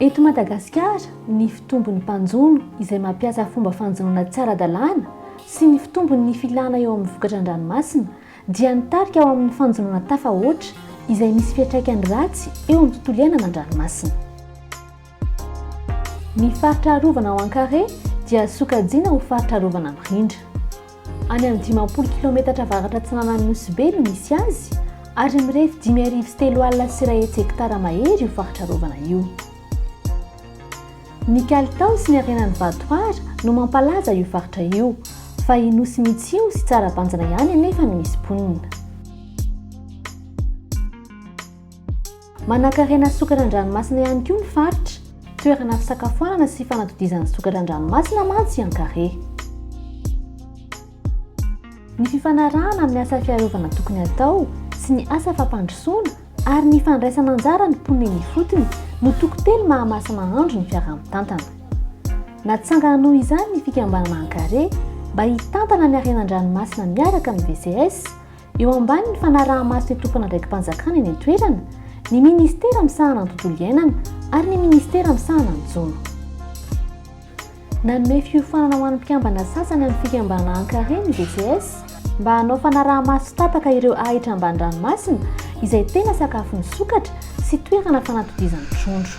Eto Madagasikara, ny fitombon'ny mpanjono izay mampiasa fomba fanjonoana tsy ara-dalàna sy ny fitombon'ny filana eo amin'ny vokatra an-dranomasina dia nitarika ho amin'ny fanjonoana tafahoatra izay misy fiantraikany ratsy eo amin'ny tontolo iainana an-dranomasina. Ny faritra arovana ao Ankare dia sokajiana ho faritra arovana mirindra. Any amin'ny dimampolo kilaometatra avaratra atsinanan'ny Nosy Be no misy azy, ary mirefy dimy arivo sy telo alina sy iray hetsy hektara mahery io faritra arovana io. Ny kalitao sy ny harenan'ny vatohara no mampalaza io faritra io, fa i Nosy Mitsio sy Tsarabanjina ihany anefa no misy mponina. Manankarena sokatra an-dranomasina ihany koa ny faritra. Toerana fisakafoanana sy fanatodizan'ny sokatra an-dranomasina mantsy i Ankare. Ny fifanarahana amin'ny asa fiarovana tokony hatao sy ny asa fampandrosoana ary ny fandraisana anjara ny mponina eny ifotony no toko telo maha-masi-mahandro ny fiaraha-mitantana. Natsangana noho izany ny fikambanana Ankare mba hitantana ny harena an-dranomasina miaraka amin'ny VCS, Eo ambanin'ny fanaraha-maso ny tompon'andraiki-panjakana eny an-toerana, ny minisitera misahana ny tontolo iainana ary ny minisitera misahana ny jono. Nanome fiofanana ho an'ny mpikambana sasany amin'ny Fikambana Ankare ny VCS, mba hanao fanaraha-maso tsy tapaka ireo ahitra ambany ranomasina izay tena sakafon'ny sokatra sy toerana fanatodizan'ny trondro.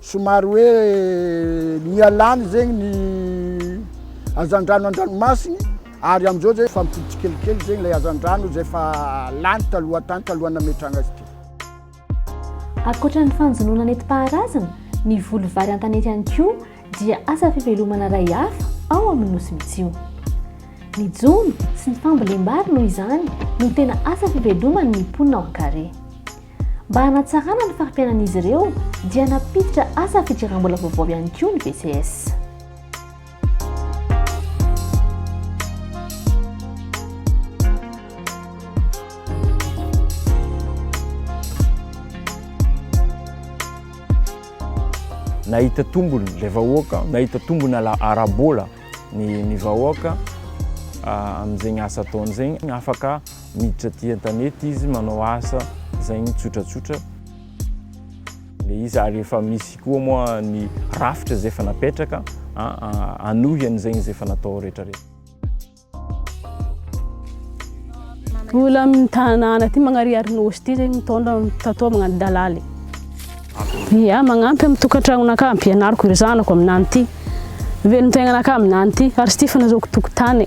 Somary hoe miha lany zegny ny hazandrano an-dranomasiny ary amin'izao izay efa mipody tsikelikely zegny ilay hazandrano izay efa lany taloha tany talohan'ny nametrahana azy ity. Ankoatra ny fanjonoana nentim-paharazana, ny voly vary an-tanety ihany koa dia asa fivelomana iray hafa ao amin'ny Nosy Mitsio. Ny jono sy ny fambolem-bary noho izany no tena asa fiveloman'ny mponina ao Ankare. Mba hanatsarana ny fari-piainan'izy ireo dia nampiditra asa fidiram-bola vaovao ihany koa ny BCS. nahita tombony ilay vahoaka, nahita tombony ara-bola ny ny vahoaka ah, amin'izegny asa ataony zegny afaka Miditra aty an-tanety izy manao asa izay ny tsotratsotra. Ilay izy ary efa misy koa moa ny rafitra izay efa napetraka hanohy an'izay izay efa natao rehetra rehetra. Mbola amin'ny tanàna aty Magnariary Nosy ity izay mitondra tato magnano dalaly. Ia, magnampy amin'ny tokantranonakà, ampianariko ry zanako aminany ity. Velon-taignanakà aminany ity, ary tsy tia fanazaoko tokotany.